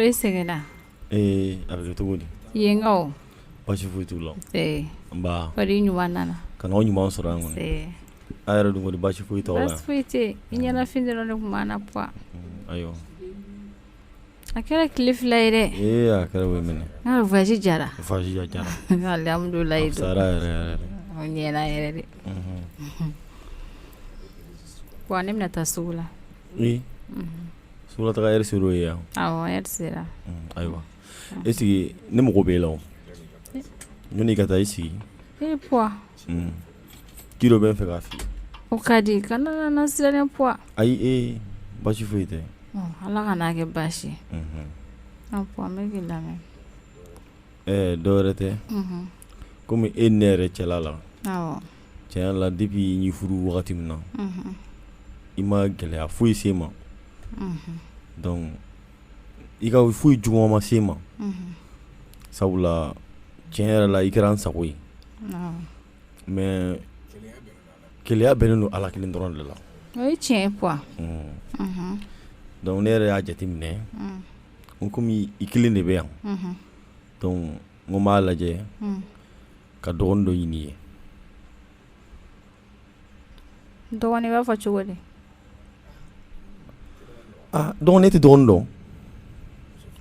e sɛgɛnna a kɛra cogo di yenkaw basi foyi t'u la ɲuman nana ka na ɲuman sɔrɔ yan kɔni aw yɛrɛ dun basi foyi t'aw la basi foyi tɛ i ɲɛnafin dɔrɔn de tun b'an na Puan ayiwa A kɛra tile fila ye dɛ ee a kɛra bɛ minɛ voyage diyara voyage diyara alhamdulilayi a diyara yɛrɛ dɛ Puan ne bɛna taa sugu la sugu la taa yɛrɛ sera o ye yan sera ayiwa e sigi ne mago b'e la o yanni i ka taa i sigi Ko dɔ bɛ n fɛ k'a f'i ye o ka di kana n lasiran Puan ayi e basi foyi tɛ ala kana kɛ baasi ye Puan n bɛ k'i lamɛn ɛɛ dɔ wɛrɛ tɛ kɔmi e ne yɛrɛ cɛla la tiɲɛ la depuis n y'i furu wagati min na i ma gɛlɛya foyi se n ma donc i ka foyi juguman ma se n ma sabula tiɲɛ yɛrɛ la i kɛra n sago ye mais kelenya bɛnnen don Ala kelen dɔrɔn de la, o ye tiɲɛ ye Puan donc ne yɛrɛ y'a jateminɛ n komi i kelen de bɛ yan donc n ko n b'a lajɛ ka dɔgɔni dɔ ɲini i ye, dɔgɔni i b'a fɔ cogo di? ah donc ne tɛ dɔgɔni dɔn,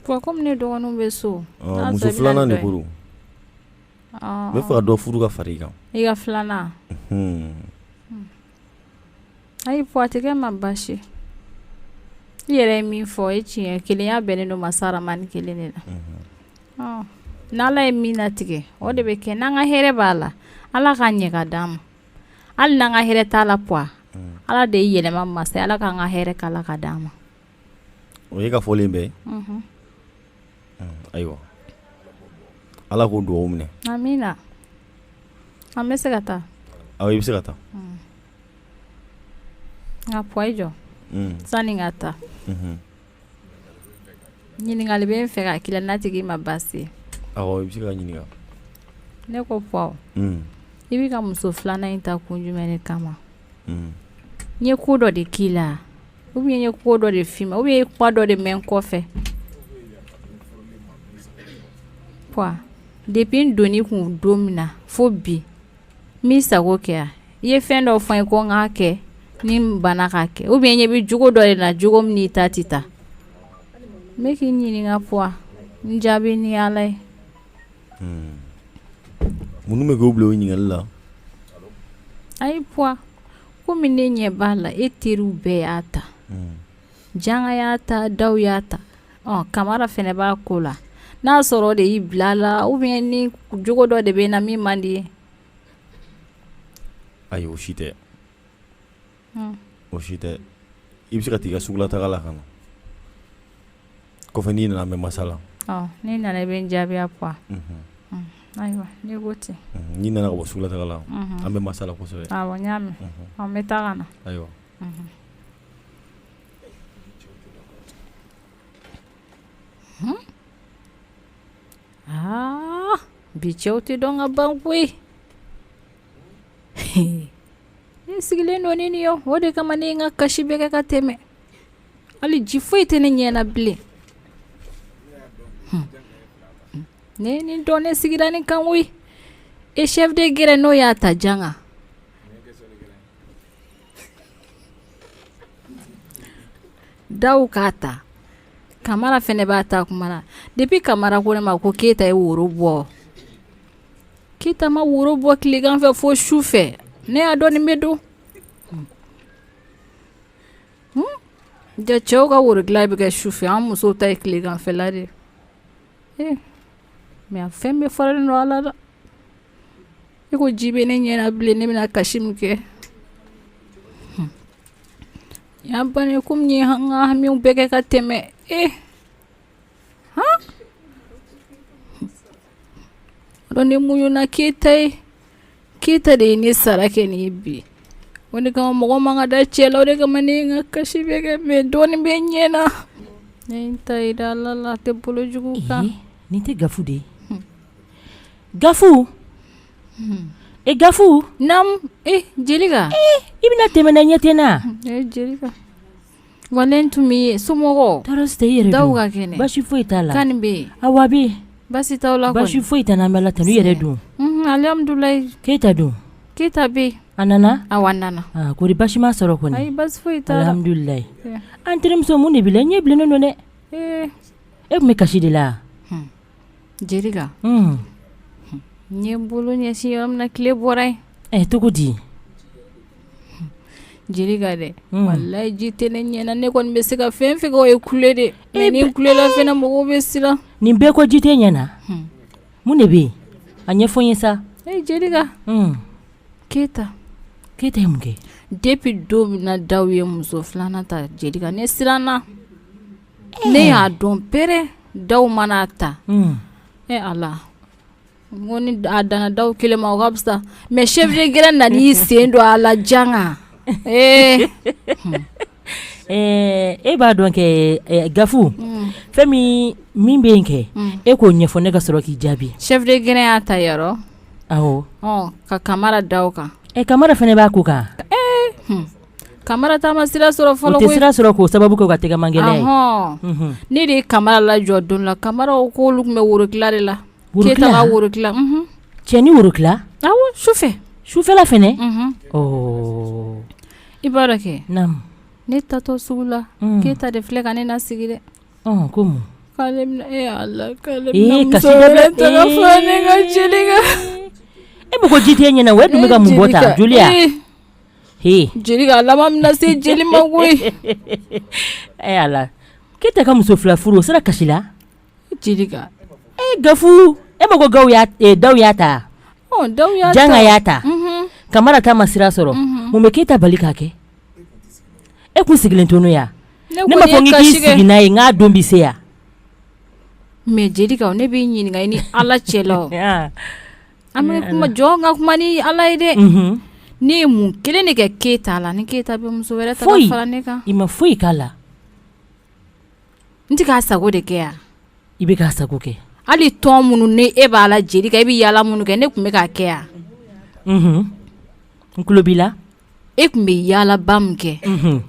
Puan komi ne dɔgɔninw bɛ so, ɔɔ muso 2 nan de ko don N b'a fɛ ka dɔ furu ka fara i kan i ka filanan ayi Puan a tɛ kɛ n ma baasi i yɛrɛ ye min fɔ o ye tiɲɛ kelenya bɛnnen don masa rahamani kelen de la n' ala ye min latigɛ o de bɛ kɛ n'an ka hɛrɛ b'a la ala k'a ɲɛ k'a d' an ma hali n'an ka hɛrɛ t'a la Puan ala de ye yɛlɛma masa ala k'an ka hɛrɛ k'a la k'a d' an ma o ye ka fɔlen bɛ ayiwa ala k'o dugawu minɛ amina an bɛ se ka taa awɔ i bɛ se ka taa nka Puan i jɔ sani n ka taa ɲininkali bɛ n fɛ ka k'i la n'a tɛ k'i ma baasi i bɛ se ka n ɲininka ne ko Puan i bɛ ka muso filanan in ta kun jumɛn de kama n ye ko dɔ de k'i la ou bien n ye ko dɔ de f'i ma ou bien i ye kuma dɔ de mɛn n kɔfɛ Puan depuis n don i kun don min na fo bi n b'i sago kɛ i ye fɛn dɔ fɔ n ye ko n k'a kɛ ni n banna k'a kɛ ou bien i ɲɛ bɛ jogo dɔ de la jogo min n'i ta tɛ taa n bɛ k'i ɲininka Puan n jaabi ni ala ye hmm. mun bɛ k'i bila o ɲininkali la ayi p kɔmi ne ɲɛ b'a la e teriw bɛɛ y'a ta janga y'a ta daw y'a ta kamara fɛnɛ b'a ko la n'a sɔrɔ o de y'i bila la ou bien ni jogo dɔ de bɛ n na min man di i ye ayi o si tɛ o si tɛ i bɛ se ka taa i ka sugula taga la ka na Kɔfɛ n'i nana an bɛ masala n'i nana i bɛ n jaabiya puan ayiwa n'i ko ten n'i nana ka bɔ sugula taga la an bɛ masala kosɛbɛ awɔ n y'a mɛn n bɛ taa ka na ayiwa aa bi cɛw tɛ dɔn ka ban koyi ne sigilen don ni nin ye o de kama ne ye n ka kasi bɛɛ kɛ ka tɛmɛ hali ji foyi tɛ ne ɲɛna bilen ne ye nin dɔn ne sigira nin kan koyi e chef de guerre n'o y'a ta janga daw k'a ta kamara fɛnɛ b'a ta kuma na depi kamara ko ne ma ko keyita ye woro bɔ Keyita ma woro bɔ tilegan fɛ fo su fɛ ne y'a dɔn nin bɛ don ja cɛw ka woro dilan bɛ kɛ su fɛ an musow ta ye tileganfɛla de mɛ fɛn bɛɛ faralen don ala la e ko ji bɛ ne ɲɛna bilen ne bɛna kasi min kɛ yan ban kɔmi n ye n ka hamiw bɛɛ kɛ ka tɛmɛ e Huh? Donc ne muɲuna keyita ye keyita de ye ne sara kɛ nin ye bi o de kama mɔgɔ man ka da cɛ la o de kama ne ye n ka kasi bɛɛ kɛ mɛ dɔɔnin bɛ n ɲɛ na ne ye n ta yira ala la a tɛ bolo jugu kan nin tɛ gafu de ye gafu e gafu naamu e jelika i bɛna tɛmɛ n na i ɲɛ tɛ n na jeli Wa ne tun bɛ yen somɔgɔw tɔɔrɔ si tɛ i yɛrɛ daw dun ka kɛnɛ basi foyi t'a la kan bɛ yen awa basi t'aw la basi foyi tɛ an bɛ ala tanu i yɛrɛ dun alhamdulilayi keyita dun keyita bɛ yen a nana a nana kori basi ma sɔrɔ kɔni basi foyi tɛ alhamdulilayi an terimuso mun de b'i la ɲɛ bilennen don dɛ e tun bɛ kasi de la Jerika n ye n bolo ɲɛsin yɔrɔ min tile bɔra yen ɛ cogo di jerika dɛ walayi ji tɛ ne ɲɛna ne kɔni bɛ se ka fɛn min kɛ o ye kule de ye ni n kulela fana mɔgɔw bɛ siran nin bɛɛ ko ji tɛ n ɲɛna mun de bɛ yen a ɲɛfɔ n ye sa e jerika keyita keyita ye mun kɛ depi don min na daw ye muso filanan ta jerika ne siranna ne y'a dɔn pere dawu mana ta e ala ko ni a danna dawu kelen ma o ka fisa mais chef de grin nana i sen don a la janga ee e b'a dɔn kɛ gafu fɛn min bɛ yen kɛ e k'o ɲɛfɔ ne ka sɔrɔ k'i jaabi chef de grin y'a ta yɔrɔ ka kamara da o kan ɛ kamara fana b'a ko kan kamara ta ma sira sɔrɔ fɔlɔ koyi, u tɛ sira sɔrɔ k'o sababu kɛ u ka tɛgɛman gɛlɛya ye, ɔhɔn, unhun, ne de ye kamara lajɔ don dɔ la kamaraw k'olu tun bɛ worotila de la, worotila, Keyita ka worotila, unhun, cɛ ni worotila, awɔ sufɛ, sufɛla fana, unhun, ɔɔ, i b'a dɔn kɛ, naamu, ne taatɔ sugu la, un, Keyita de filɛ ka ne lasigi dɛ, ɔn ko mun, k'ale bɛna ee Ala k'ale bɛna muso wɛrɛ ta ka fara ne kan, jelika, ee, e ma ko ji tɛ e ɲɛ na wa e dun bɛ ka mun bɔ tan joli ya jelika a laban bɛna se jeli ma koyi ala keyita ka muso fila furu o sera kasi la jelika gafu e ma ko dawu y'a ta janga y'a ta kamara ta ma sira sɔrɔ mun bɛ keyita bali k'a kɛ e tun sigilen tun yan ne m'a fɔ k'i sigi n'a ye k'a don bɛ se yan mais jelika ne b'i ɲininka i ni ala cɛ la An bɛ kuma jɔ n ka kuma ni ala ye dɛ ne ye mun kelen de kɛ keyita la ni keyita bɛ muso wɛrɛ ta ka fara ne kan i ma foyi k'a la n tɛ k'a sago de kɛ yan i bɛ k'a sago kɛ hali tɔn minnu ne e b'a la jelika i bɛ yaala minnu kɛ ne tun bɛ k'a kɛ yan n tulo b'i la e tun bɛ yaalaba min kɛ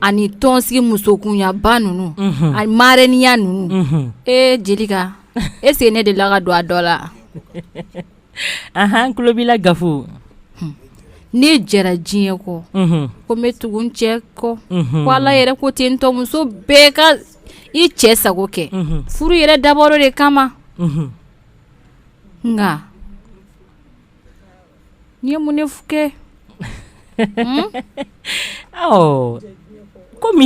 ani tɔnsigi musokunyaba ninnu ani marɛniya ninnu ee jelika est-ce que ne de la ka don a dɔ la ahan n tulo b'i la gafu ne jɛra diɲɛ kɔ ko n bɛ tugu n cɛ kɔ ko ala yɛrɛ ko ten tɔ muso bɛɛ ka i cɛ sago kɛ furu yɛrɛ dabɔra o de kama nka Ne ye mun de kɛ kɔmi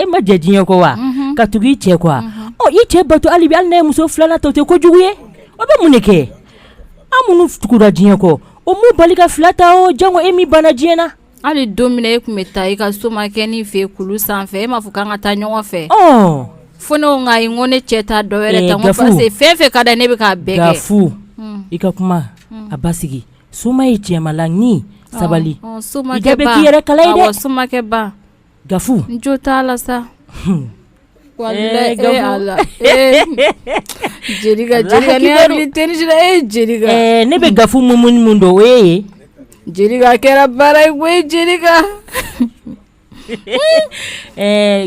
e ma jɛ diɲɛ kɔ wa ka tugu i cɛ kɔ wa i cɛ bato hali bi hali n'a ye muso filanan ta o tɛ kojugu ye o bɛ mun de kɛ an minnu tuguda diɲɛ kɔ o m'u bali ka fila ta o janko e min banna diɲɛ na Hali don min na e tun bɛ taa i ka somakɛnin fɛ kulu sanfɛ e m'a fɔ k'an ka taa ɲɔgɔn fɛ fo ne ko ayi n ko ne cɛ tɛ dɔ wɛrɛ ta n ko parce que fɛn fɛn ka d'a ye ne bɛ k'a bɛɛ kɛ gafu i ka kuma a basigi soma ye cɛma la ni sabali so yɛrɛ kala somakɛba gafu jo t'a la sa ne bɛ gafu mun dɔn o ye ye kɛra baara ye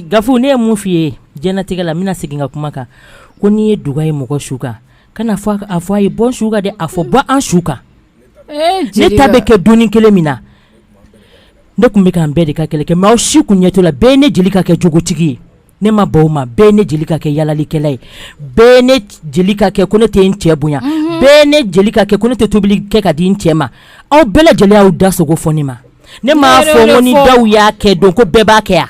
gafu ne ye mun f' i ye diɲɛlatigɛ la n bɛna segin ka kuma kan ko n'i ye duga ye mɔgɔ su kan kan'a fɔ a ye bɔ su kan dɛ a fɔ bɔ an su kan ne ta bɛ kɛ dɔni kelen min na ne tun bɛ k'an bɛɛ de ka kɛlɛ kɛ mais aw si tun ɲɛ t'o la bɛɛ ye ne jelika kɛ jogotigi ye ne ma ban o ma bɛɛ ye ne jelika kɛ yaalalikɛla ye bɛɛ ye ne jelika kɛ ko ne tɛ n cɛ bonya mhm. bɛɛ ye ne jelika kɛ ko ne tɛ tobili kɛ ka di n cɛ ma aw bɛɛ lajɛlen y'aw da sogo fɔ ne ma ne m'a fɔ ko ni daw y'a kɛ don ko bɛɛ b'a kɛ yan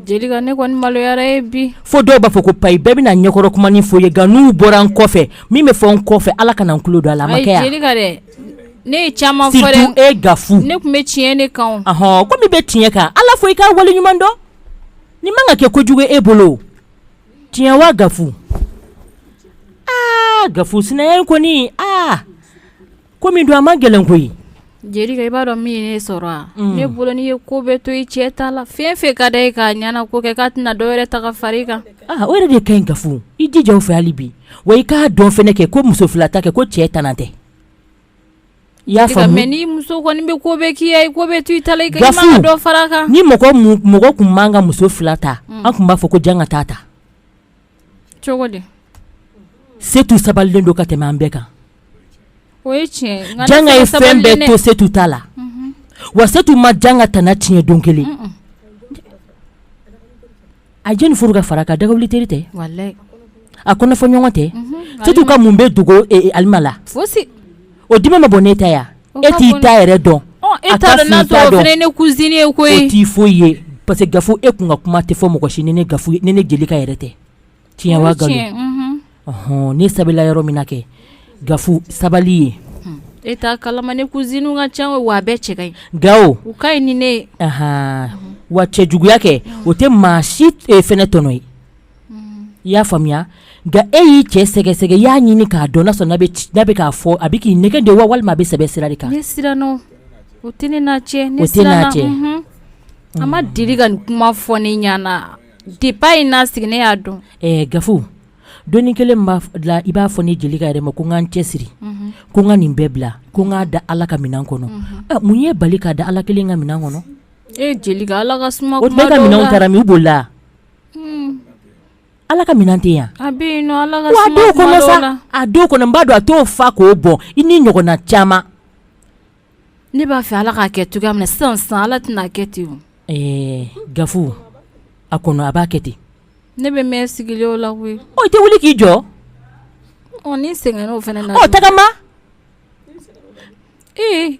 Jelika ne kɔni maloyara bi fo dɔw b'a fɔ ko payi bɛɛ bɛna ɲɛkɔrɔ kumani fɔ ye nka n'u bɔra n kɔfɛ min bɛ fɔ n kɔfɛ ala kana n tulo don a la ma dɛ ne ye caman fɔ e gafu ne tun bɛ tiɲɛ de kan hɔn ko min bɛ tiɲɛ kan ala fɔ i ka wale ɲuman dɔn ni man ka kɛ kojugu e bolo tiɲɛ wa gafu aa gafu sinaya kɔni aa ko min don a man gɛlɛn koyi jelika i b'a dɔn min ye ne sɔrɔ a mm. ne bolo n'i ye ko bɛɛ to i cɛ ta la fɛn fɛn ka d'a ye k'a ɲɛnako kɛ k'a tɛna dɔ wɛrɛ ta ka fara i kan ah, o yɛrɛ de ka ɲi gafu i jija o fɛ hali bi wa i k'a dɔn fɛnɛ kɛ ko muso fila ta kɛ ko cɛ tana tɛ i y'a faamu mais ni muso kɔni bɛ ko bɛɛ k'i ye ko bɛɛ to i ta la i ka dɔ fara a kan ni mɔgɔ mɔgɔ tun man ka muso fila ta mm. an tun b'a fɔ ko janga taa ta setu sabalilen don ka tɛmɛ an bɛɛ kan janga ye fɛn bɛɛ to setu ta la mhm. wa setu ma janga tana tiɲɛ don kelen a jeni furu ka fara ka dagawuli teri tɛ a kɔnɔ fɔ ɲɔgɔn tɛ setu ka mun bɛ dogo e alima la O dimi ma bɔ ne ta yan e t'i ta yɛrɛ dɔn e ta ne ko e t'i foyi ye parce que gafu e tun ka kuma tɛ fɔ mɔgɔ si ni ne gafu ni ne jelika yɛrɛ tɛ tiɲɛ wa ne sabalila yɔrɔ min na kɛ gafu sabali ye e t'a kalama ne cousine ka ca wa a bɛɛ cɛ ka ɲi gawo u ka ɲi ni ne wa cɛ juguya kɛ o tɛ maa si fɛnɛ tɔnɔ ye i y'a faamuya nka e y'i cɛ sɛgɛsɛgɛ i y'a ɲini k'a dɔn n'a sɔrɔ n'a bɛ k'a fɔ a bɛ k'i nɛgɛn de wa walima a bɛ sɛbɛ sira de kan o tɛ ne cɛ a ma deli ka nin kuma fɔ ne ɲɛna depuis a ye n'a sigi ne y'a dɔn gafu dɔni kelen b'a la i b'a fɔ ne jelika yɛrɛ ma ko n ka n cɛsiri ko n ka nin bɛɛ bila ko n k'a da ala ka minɛn kɔnɔ mun y'e bali k'a da ala kelen ka minɛn kɔnɔ e jelika ala ka o ka minɛn taara min b'o la Ala ka minɛn tɛ yan a dɔw kɔnɔ n b'a dɔn a t'o fa k'o bɔn i ni ɲɔgɔnna caman ne b'a fɛ ala k'a kɛ cogoya min na sisan ala tɛn'a kɛ ten ɛɛ gafu a kɔnɔ a b'a kɛ ten ne bɛ mɛn sigili o la koyi i tɛ wuli k'i jɔ ni sɛgɛn fana o tagama ee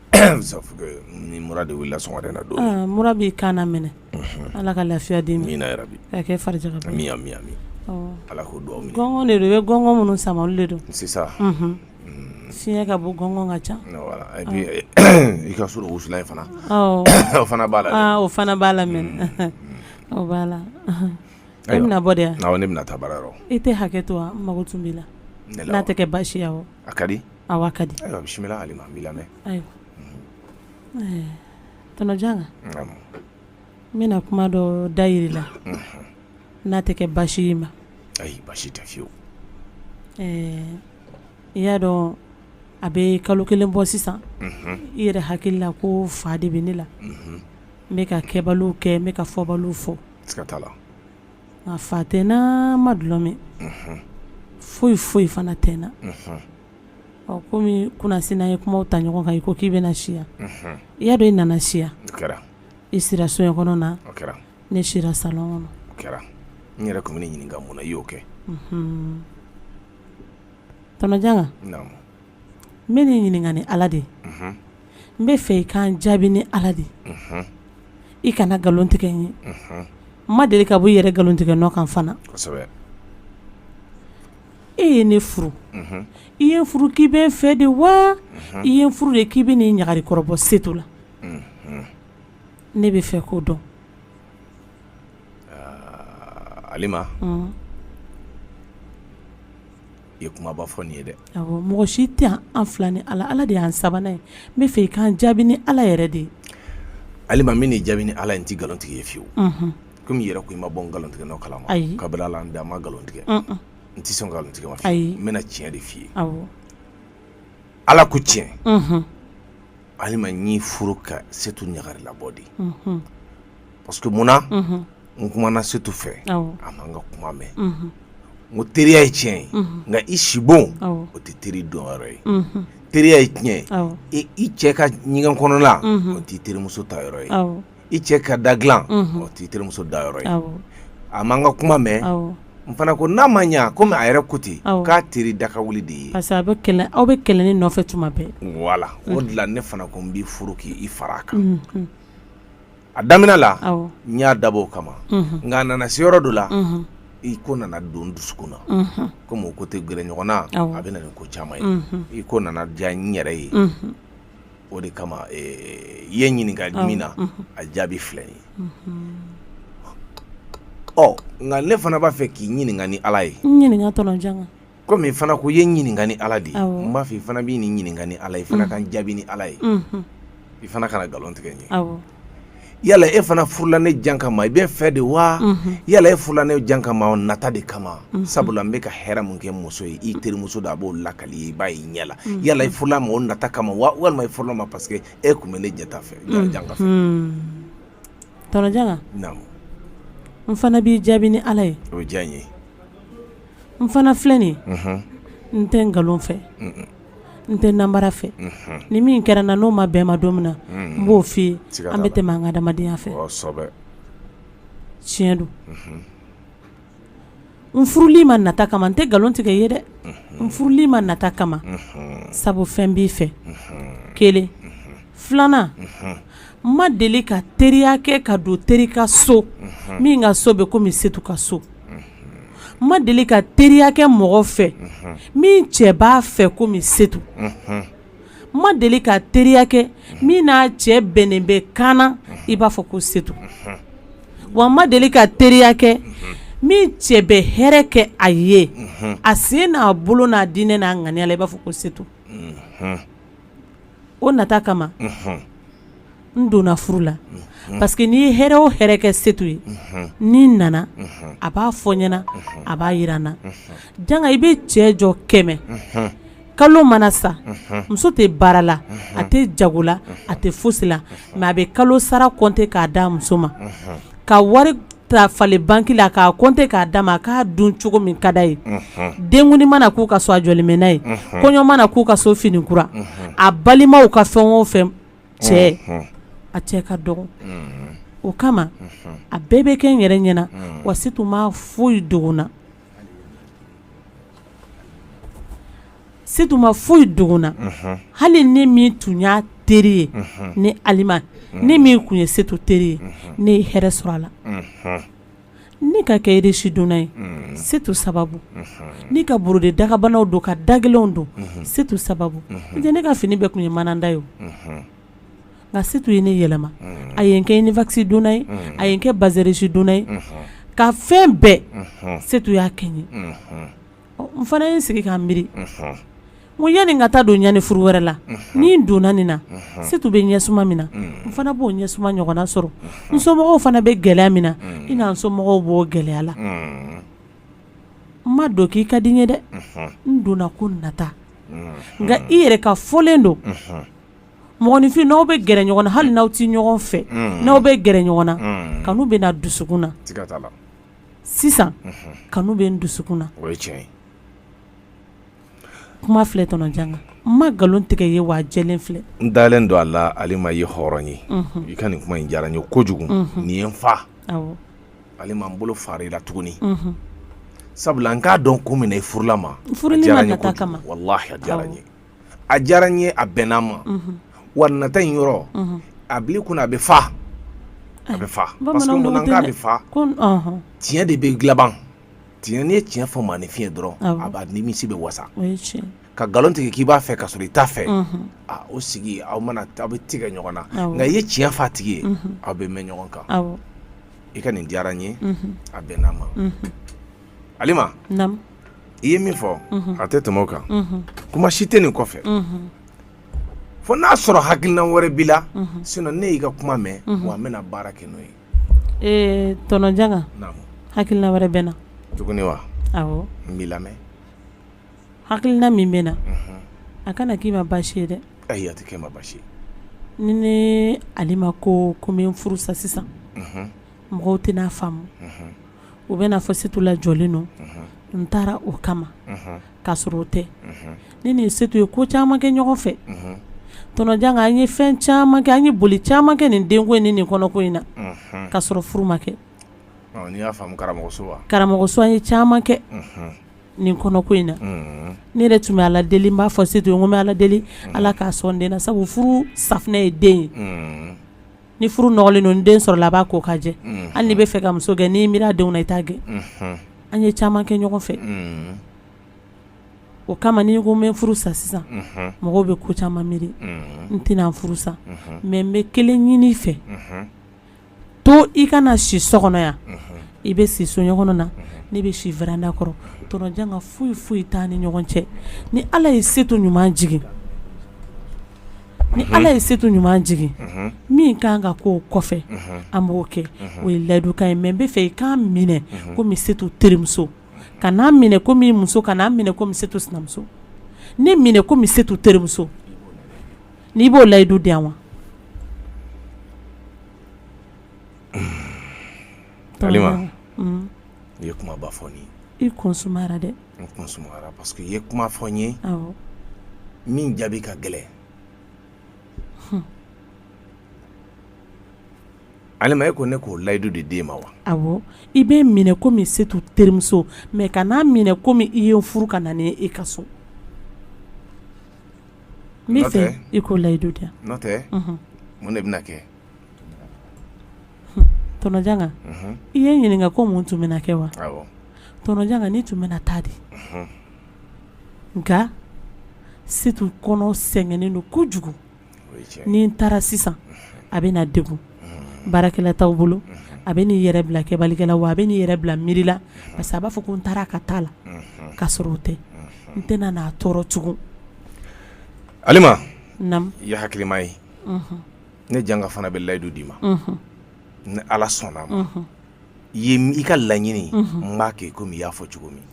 ni mura de wulila sɔgɔmada na don mura b'i kan na minɛ ala ka lafiya d'i ma amina ya rabi k'a kɛ farijaga ye amina ala k'o dugawu minɛ gɔngɔn de don i bɛ gɔngɔn minnu sama olu de don sisan fiɲɛ ka bon gɔngɔn ka ca i ka so wusulan in fana o fana b'a la o fana b'a la mɛ o b'a la e bɛna bɔ de ne bɛna taa baara yɔrɔ i tɛ hakɛ to wa n mago tun b'i la n'a tɛ kɛ baasi ye awɔ a ka di Awɔ a ka di ayiwa bisimila alima n b'i lamɛn ayiwa tɔnɔjanga n bɛna kuma dɔ dayir'i la n'a tɛ kɛ basi ye ma ayi basi tɛ fiyewu ɛɛ i y'a dɔn a bɛ kalo kelen bɔ sisan i yɛrɛ hakili la ko fa de bɛ ne la n bɛ ka kɛbaliw kɛ n bɛ ka fɔbaliw fɔ A fa tɛ n na n ma dulɔ min foyi foyi fana tɛ n na ɔ kɔmi kunasini an ye kumaw ta ɲɔgɔn kan i ko k'i bɛ na si yan i y'a dɔn i nana si yan i sira so in kɔnɔna ne sira salon kɔnɔ o kɛra n yɛrɛ tun bɛn'i ɲininka mun na i y'o kɛ tɔnɔjanga n bɛn'i ɲininka ni ala de ye n b'a fɛ i ka n jaabi ni ala de ye i kana nkalon tigɛ n ye n ma deli ka bɔ i yɛrɛ nkalon tigɛ nɔ kan fana e ye ne furu i ye n furu k'i bɛ n fɛ de wa i ye n furu de k'i bɛn'i ɲagari kɔrɔ bɔ setu la ne b'a fɛ k'o dɔn i ye kumaba fɔ nin ye dɛ mɔgɔ si tɛ an fila ni ala ala de y'an sabanan ye n b'a fɛ i ka n jaabi ni ala yɛrɛ de ye alima n bɛn'i jaabi ni ala ye n tɛ nkalon tigɛ i ye fiyewu kɔmi i yɛrɛ ko i ma bɔ n nkalontigɛ nɔ kala ma kabini ala n da n ma nkalon tigɛ n tɛ sɔn nkalon tigɛ ma fiyewu n bɛna tiɲɛ de f'i ye ala ko tiɲɛ alima n y'i furu ka setu ɲagari labɔ de parce que munna n kumana setu fɛ a ma n ka kuma mɛn n ko teriya ye tiɲɛ ye nka i sibon o tɛ teri don yɔrɔ ye teriya ye tiɲɛ ye i cɛ ka ɲɛgɛn kɔnɔla o t'i terimuso taa yɔrɔ ye i cɛ ka da dilan o t'i terimuso da yɔrɔ ye a ma n ka kuma mɛn n fana ko n'a ma ɲɛ komi a yɛrɛ ko ten k'a teri daka wuli de ye parce que a bɛ kɛlɛ aw bɛ kɛlɛ nin nɔfɛ tuma bɛɛ voilà o de la ne fana ko n b'i furu k'i fara a kan a daminɛ la n y'a dabɔ o kama nka a nana se yɔrɔ dɔ la i ko nana don n dusukun na komi o ko tɛ gɛrɛ ɲɔgɔn na a bɛ na ni ko caman ye i ko nana diya n yɛrɛ ye o de kama i ye n ɲininka min na a jaabi filɛ ye ɔ nka ne fana b'a fɛ k'i ɲininka ni ala ye Komi i fana ko i ye n ɲininka ni ala de ye n b'a fɛ i fana n b'i ɲininka ni ala ye i fana ka n jaabi ni ala ye i fana kana nkalon tigɛ n ye yala e fana furula ne janga ma i bɛ n fɛ de wa yala e furula ne janga ma nata de kama sabula n bɛ ka hɛrɛ min kɛ muso ye i terimuso da a b'o lakali i ye i b'a y'i ɲɛ la yala i furula n ma o nata kama wa walima i furula n ma parce que e tun bɛ ne jaati fɛ n fana b'i jaabi ni ala ye o diya n ye n fana filɛ nin ye unhun n tɛ nkalon fɛ un-un n tɛ namara fɛ unhun ni min kɛra n na n'o ma bɛn n ma don min na unhun n b'o f'i ye siga t'a la an bɛ tɛmɛ an ka adamadenya fɛ kɔsɛbɛ tiɲɛ don unhun n furul'i ma nata kama n tɛ nkalon tigɛ i ye dɛ n furul'i ma nata kama unhun sabu fɛn b'i fɛ unhun kelen filanan unhun Ma deli ka teriya kɛ ka don teri ka so min ka so bɛ komi setu ka so n ma deli ka teriya kɛ mɔgɔ fɛ min cɛ b'a fɛ komi setu n ma deli ka teriya kɛ min n'a cɛ bɛnnen bɛ ka ɲa i b'a fɔ ko setu wa n ma deli ka teriya kɛ min cɛ bɛ hɛrɛ kɛ a ye a sen n'a bolo n'a diinɛ n'a ŋaniya la i b'a fɔ ko setu o nata kama n donna furu la parce que n'i ye hɛrɛ o hɛrɛ kɛ setu ye ni n nana a b'a fɔ n ɲɛna a b'a yira n na janga i bɛ cɛ jɔ kɛmɛ kalo mana sa muso tɛ baara la a tɛ jago la a tɛ fosi la mais a bɛ kalo sara compter k'a d'a muso ma ka wari ta falen banque la k'a compter k'a d'a ma k'a dun cogo min ka d'a ye. Denkuni mana k'u ka so a jɔlen bɛ n'a ye. Kɔɲɔ mana k'u ka so fini kura. A balimaw ka fɛn o fɛn cɛ a cɛ ka dɔgɔ o kama a bɛɛ bɛ kɛ n yɛrɛ ɲɛna wa setu ma foyi dogo n na. setu ma foyi dogo n na hali ne min tun y'a teri ye ne alima ne min tun ye setu teri ye ne ye hɛrɛ sɔrɔ a la ne ka kɛ riche donna ye setu sababu ne ka borode dagabanaw don ka dagɛlɛnw don setu sababu n tɛ ne ka fini bɛɛ tun ye mananda ye o nka setu ye ne yɛlɛma a ye n kɛ uniwax donna ye a ye n kɛ bazin riche donna ye ka fɛn bɛɛ setu y'a kɛ n ye N fana ye n sigi ka n miiri ko yani n ka taa don ɲani furu wɛrɛ la ni n donna nin na Setu bɛ ɲɛsuma min na n fana b'o ɲɛsuma ɲɔgɔnna sɔrɔ n somɔgɔw fana bɛ gɛlɛya min na i na n somɔgɔw b'o gɛlɛya la n ma don k'i ka di n ye dɛ n donna ko nata nka i yɛrɛ ka fɔlen don mɔgɔninfin n'aw bɛ gɛrɛ ɲɔgɔn na hali n'aw tɛ ɲɔgɔn fɛ n'aw bɛ gɛrɛ ɲɔgɔn na kanu bɛ na dusukun na sisan kanu bɛ n dusukun na o ye tiɲɛ ye kuma filɛ tɔnɔ Janga n ma nkalon tigɛ i ye wa a jɛlen filɛ n dalen don a la Alima i ye hɔrɔn ye i ka nin kuma in diyara n ye kojugu nin ye n fa awɔ Alima n bolo fara i la tuguni sabula n k'a dɔn kun min na i furula n ma a diyara n ye kojugu walahi a diyara n ye. a diyara n ye a bɛnna n ma wa nata in yɔrɔ a bili kunna a bɛ fa a bɛ fa parce que mun na k'a bɛ fa tiɲɛ de bɛ laban tiɲɛ n'i ye tiɲɛ fɔ maaninfin ye dɔrɔn a b'a nimisi bɛɛ wasa ka nkalon tigɛ k'i b'a fɛ ka sɔrɔ i t'a fɛ o sigi aw mana aw bɛ tigɛ ɲɔgɔn na nka i ye tiɲɛ fɔ a tigi ye aw bɛ mɛn ɲɔgɔn kan i ka nin diyara n ye a bɛnna n ma alima i ye min fɔ a tɛ tɛmɛ o kan kuma si tɛ nin kɔfɛ fo n'a sɔrɔ hakilina wɛrɛ b'i la sinon ne y'i ka kuma mɛn wa an bɛna baara kɛ n'o ye tɔnɔ Janga hakilina wɛrɛ bɛ n na tuguni wa awɔ n b'i lamɛn hakilina min bɛ n na a kana k'i ma baasi ye dɛ ayi a tɛ kɛ n ma baasi ye ni ne alima ko ko n bɛ n furu sa sisan mɔgɔw tɛn'a faamu u bɛn'a fɔ setu lajɔlen don n taara o kama k'a sɔrɔ o tɛ ne ni setu ye ko caman kɛ ɲɔgɔn fɛ tɔnɔ Janga an ye fɛn caman kɛ an ye boli caman kɛ nin denko in ni nin kɔnɔko in na ka sɔrɔ furu ma kɛ karamɔgɔso an ye caman kɛ nin kɔnɔko in na ne yɛrɛ tun bɛ ala deli n b'a fɔ setu ye ko n bɛ ala deli ala k'a sɔn den na sabu furu safunɛ ye den ye ni furu nɔgɔlen don ni den sɔrɔla a b'a ko ka jɛ hali n'i bɛ fɛ ka muso gɛn n'i miiri a denw na i t'a gɛn an ye caman kɛ ɲɔgɔn fɛ o kama ni n ko n bɛ furu sa sisan mɔgɔw bɛ ko caman miiri n tɛna furu sa mɛ n bɛ kelen ɲini i fɛ to i kana si so kɔnɔ yan i bɛ si soɲɛ kɔnɔna ne bɛ si veranda kɔrɔ tɔnɔ Janga foyi foyi t'an ni ɲɔgɔn cɛ ni ala ye setu ɲuman jigin ni ala ye setu ɲuman jigin min ka kan ka k'o kɔfɛ an b'o kɛ o ye layidukan ye mɛ n bɛ fɛ i ka n minɛ komi setu terimuso kana n minɛ komi muso kana n minɛ komi setu sinamuso ne minɛ komi setu terimuso n'i b'o layidu di yan wa i ye kuma ba fɔ i kɔnsora dɛ N kun sumayara parce que i ye kuma fɔ n ye, awɔ, min jaabi ka gɛlɛn, hun, Alima e ko ne k'o layidu de d'e ma wa? awɔ, i bɛ n minɛ comme Setu terimuso mais kan'a minɛ comme i ye n furu ka na ni n ye e ka so, n bɛ fɛ i k'o layidu di yan, n'o tɛ, unhun, mun de bɛna kɛ Tonton Janga i ye n ɲininka ko mun tun bɛna kɛ wa tonton Janga ne tun bɛna taa dɛ nka Setu kɔnɔ sɛgɛnnen don kojugu ni n taara sisan a bɛna degun baarakɛla t'aw bolo a bɛ n'i yɛrɛ bila kɛbalikɛ la wa a bɛ n'i yɛrɛ bila miiri la parce que a b'a fɔ ko n taara a ka taa la k'a sɔrɔ o tɛ n tɛna n'a tɔɔrɔ tugun Alima i ye hakilima ye ne janga fana bɛ layidu d'i ma ni ala sɔnna ma ye i ka laɲini n b'a kɛ i komi i y'a fɔ cogo min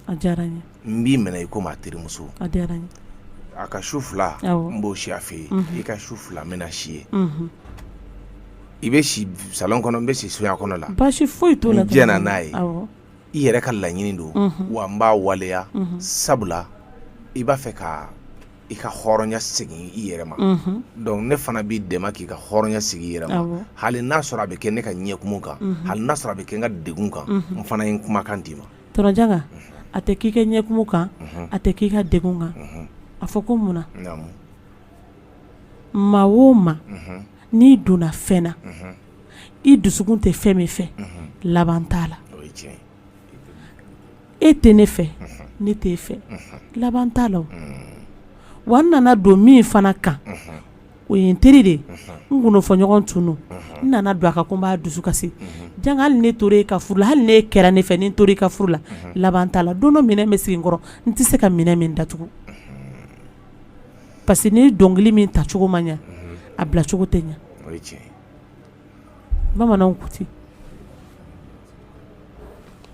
n b'i minɛ i komi a terimuso a ka su fila n b'o si a fɛ yen i ka su fila n bɛna si yen i bɛ si salon kɔnɔ n bɛ si soya kɔnɔ la baasi foyi t'o la n diɲɛna n'a ye i yɛrɛ ka laɲini don wa n b'a waleya sabula i b'a fɛ ka i ka hɔrɔnya segin i yɛrɛ ma donc ne fana b'i dɛmɛ k'i ka hɔrɔnya segin i yɛrɛ ma hali n'a sɔrɔ a bɛ kɛ ne ka ɲɛkumu kan hali n'a sɔrɔ a bɛ kɛ n ka degun kan n fana ye n kumakan d'i ma tonton Janga a tɛ k'i ka ɲɛkumu kan a tɛ k'i ka degun kan a fɔ ko mun na maa o maa n'i donna fɛn na i dusukun tɛ fɛn min fɛ laban t'a la e tɛ ne fɛ ne t'e fɛ laban t'a la wa n nana don min fana kan o ye n teri de ye n kɔnɔfɔɲɔgɔn tun n nana don a kan ko n b'a dusu kasi Janga hali ni n tora e ka furu la hali n'e kɛra ne fɛ ni n tora e ka furu la laban t'a la don dɔ minɛn bɛ sigi n kɔrɔ n tɛ se ka minɛn min datugu parce que ni dɔnkili min tacogo ma ɲɛ a bilacogo tɛ ɲɛ bamananw ko ten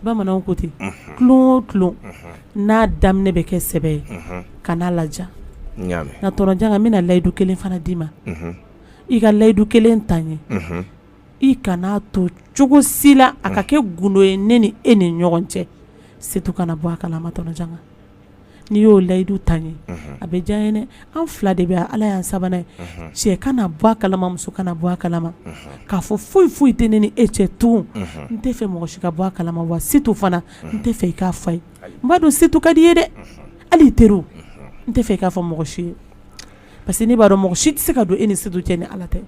bamananw ko ten unhun tulon o tulon unhun n'a daminɛ bɛ kɛ sɛbɛ ye unhun kan'a laja n y'a mɛ nka tonton Janga n bɛna layidu kelen fana d'i ma unhun i ka layidu kelen ta n ye unhun i kan'a to cogo si la a ka kɛ gundo ye ne ni e ni ɲɔgɔn cɛ Setu kana bɔ a kalama tonton Janga n'i y'o layidu ta n ye a bɛ diya n ye an fila de bɛ ala y'an sabanan ye cɛ kana bɔ a kalama muso kana bɔ a kalama k'a fɔ foyi foyi tɛ ne ni e cɛ tugun n tɛ fɛ mɔgɔ si ka bɔ a kalama wa Setu fana n tɛ fɛ i k'a fɔ a ye n b'a dɔn Setu ka di i ye dɛ hali i teri n tɛ fɛ i k'a fɔ mɔgɔ si ye parce que ne b'a dɔn mɔgɔ si tɛ se ka don e ni Setu cɛ ni ala tɛ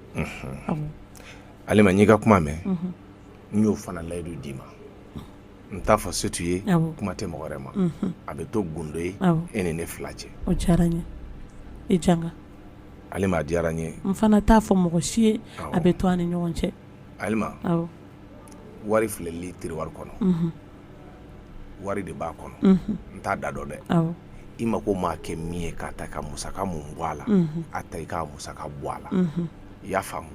Alima n y'i ka kuma mɛn n y'o fana layidu d'i ma n t'a fɔ setu ye kuma tɛ mɔgɔ wɛrɛ ma a bɛ to gundo ye e ni ne fila cɛ o diyara n ye e janga alima a diyara n ye n fana t'a fɔ mɔgɔ si ye a bɛ to an ni ɲɔgɔn cɛ alima wari filɛli tiriwari kɔnɔ wari de b'a kɔnɔ n t'a da dɔn dɛ i mako maa kɛ min ye k'a ta ka musaka mun bɔ a la a ta i ka musaka bɔ a la i y'a faamu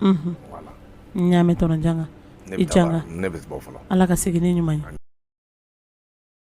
wala n y'a mɛn tɔnɔ janga i janga ne bɛ bɔ fɔlɔ Ala ka segin ni ɲuman ye.